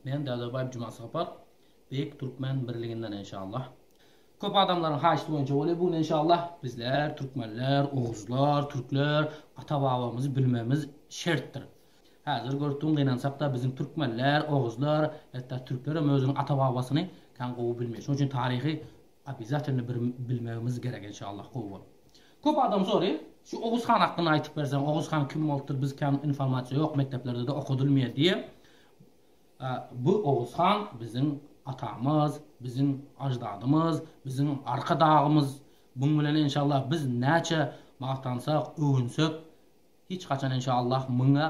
Men Dadabaýew Jumasapar beýik türkmen birliginden enşallah. Köp adamlaryň haýyşty boýunça bolýa bu gün enşallah. Bizler türkmenler, oguzlar, türkler ata babamyzy bilmegimiz şertdir. Häzir görüpdim gynansakda biziň türkmenler, oguzlar, hetda türklerem özüniň ata babasyny kän gowy bilmeýär. Şonuň üçin taryhy Obezatilno bir bilmegimiz gerek enşallah gowy bol. Köp adam sory şu Oguz han hakynda aýtyp berseň Oguz han kim bolupdyr biz kän informasiýa ýok mekdeplerdede okadylmýa diýe bu Oguz han biziň atamyz biziň aždadymyz biziň arka dagymyz buň bilen enşallah biz näçe magtansak öwünsek hiç haçan enşallah muňa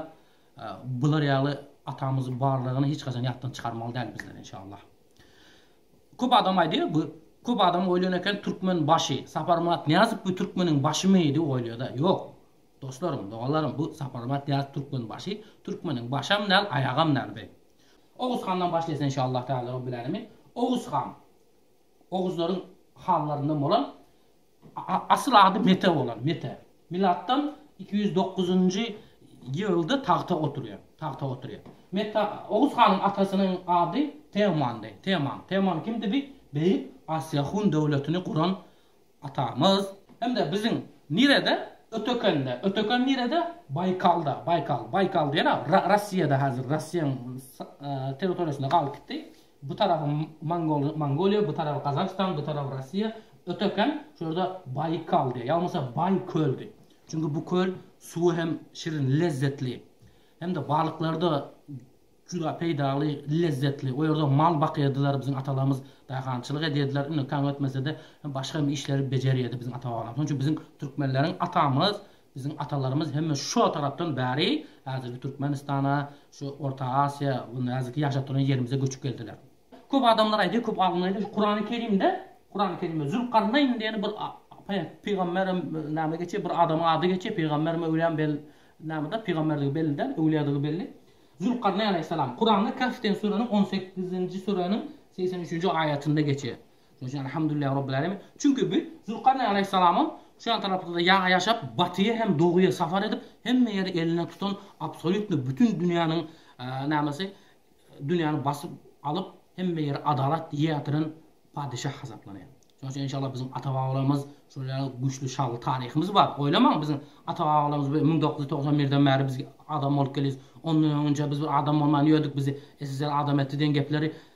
bular ýaly atamyz barlygyny hiç haçan ýatdan çykarmaly däl bizler enşallah. Köp adam aýdýar bu köp adam oýlan eken türkmen başy Saparmyrat Nyýazow bu türkmeniň başymy diýip oýlaýada ýok Dostlarym doganlarym bu Saparmyrat Nyýazow türkmen başy türkmeniň başam däl aýagam däl bi Oguz handan başlaýsyn inşallah Taala Rabbil Alemin Oguz han Oguzlaryň hanlaryndan bolan Asyl ady Mete bolan. Mete. Milatdan iki ýüz dokuzynjy ýylda tagta oturýar. Tagta oturýar. Mete Oguz hanyň atasynyň ady Teomandy. Teoman. Teoman kimdi? Bi beýik Asiýa hun döwletini guran atamyz. Hem-de biziň nirede? Ötekende. Öteken nirede? Baýkalda. Baýkal. Baýkal diýen-ä Ra Rossiýada häzir. Rossiýanyň s territoriýasynda galyp gitdi. Bu tarapy Mongol Mongoliýa, bu tarapy Gazagystan, bu tarapy Russiýa. Öterken şu ýerde Baýkal diýýär, ýa bolmasa Baý köldi. Çünki bu köl suwy hem şirin, lezzetli. Hem-de balyklary-da juda peýdaly, lezzetli. O ýerde mal bakýardylar biziň atalarymyz, daýhançylyk edýärdiler. Indi taň ötmese-de, başga hem işleri bejerýärdi biziň ata-babalarymyz. Şonuň üçin biziň türkmenleriň atamyz Biziň atalarymyz hemme şo tarapdan bäri häzirki Türkmenistana, şu Orta Asiýa, indi häzirki ýaşap duran ýerimize göçüp geldiler. Köp adamlar aýdýar, köp alymlar aýdýar, şu Kurany Kerimde, Kurany Kerimde Zülkarneýn diýen bir pygamberem näme geçýär, bir adamyň ady geçýär, pygambermi, öwlýämi bel näme-de, pygamberdigi belli däl, öwlýadygy belli. Zülkarneýn aleýhissalam. Kuranda Kahf diýen süreniň on sekizinji süreniň segsen üçünji aýatynda geçýär. Şonuň üçin Elhamdülillah Rabbil Alemin. Çünki bu Zülkarneýn Aleýhissalamyň şu ýan tarapda-da ýaňy ýaşap, batyýa hem doguýa sapar edip, hemme ýeri eline tutan absolýutno bütin dünýäniň nämesi, dünýäni basyp alyp, hemme ýeri adalat ýetiren padeşah hasaplanýar. Şonuň üçin enşallah biziň ata-babalarymyz şol ýaly güýçli şanly taryhymyz bar. Oýlamaň biziň ata-babalarymyz müň dokuz ýüz togsan birden bäri biz adam bolup gelýäs. Ondan öňünçä biz bir adam bolman ýördük, bizi SSR adam etdi diýen gepleri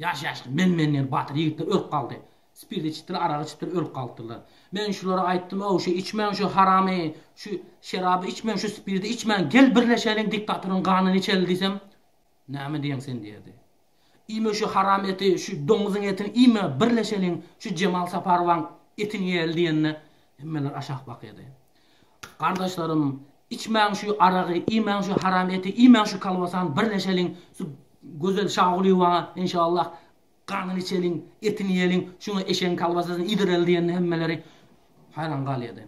Ýaş-ýaşly, men-menler batyr ýigitler ölüp galdy. Spirt içipdir, arak içipdir, ölüp galypdyrlar. Men şulara aýtdym-ow, şu içmäň şu haramy, şu şeraby içmäň, şu spirdi içmäň, gel birleşeliň, diktatoryň ganyny içeli diýsem, Näme diýeň sen diýerdi. Iýme şu haram eti, şu doňuzyň etini iýme, birleşeliň, şu Jemal Saparowaň etini iýeli diýende, hemmeler aşak bakýardy. Gardaşlarym, içmäň şu aragy, iýmäň şu haram eti, iýmäň şu kolbasany, birleşeliň, şu gözel Şagulyýewaň, enşallah, ganyny içeliň, etini iýeliň, şuňa eşegiň kolbasasyny iýdireli diýende hemmeleri haýran galýardy.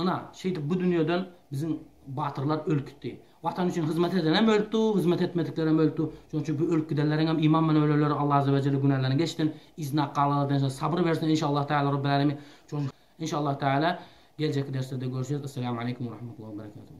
Ynha, şeýdip bu dünýeden biziň batyrlar ölüp gitdi. Watan üçin hyzmat edenem ölüpdi, hyzmat etmediklerem ölüpdi. Şonuň üçin bu ölüp gidenleriň hem iman bilen ölenleri Alla azza we jelle günälerini geçsin, yzyna galanlardan hem sabyr bersin enşallah täala Rabbil Alemin. Inşallah Taala geljekki derslerde görüşeris Esselamu Aleýkum we Rahmetullahi we Berekatuhu.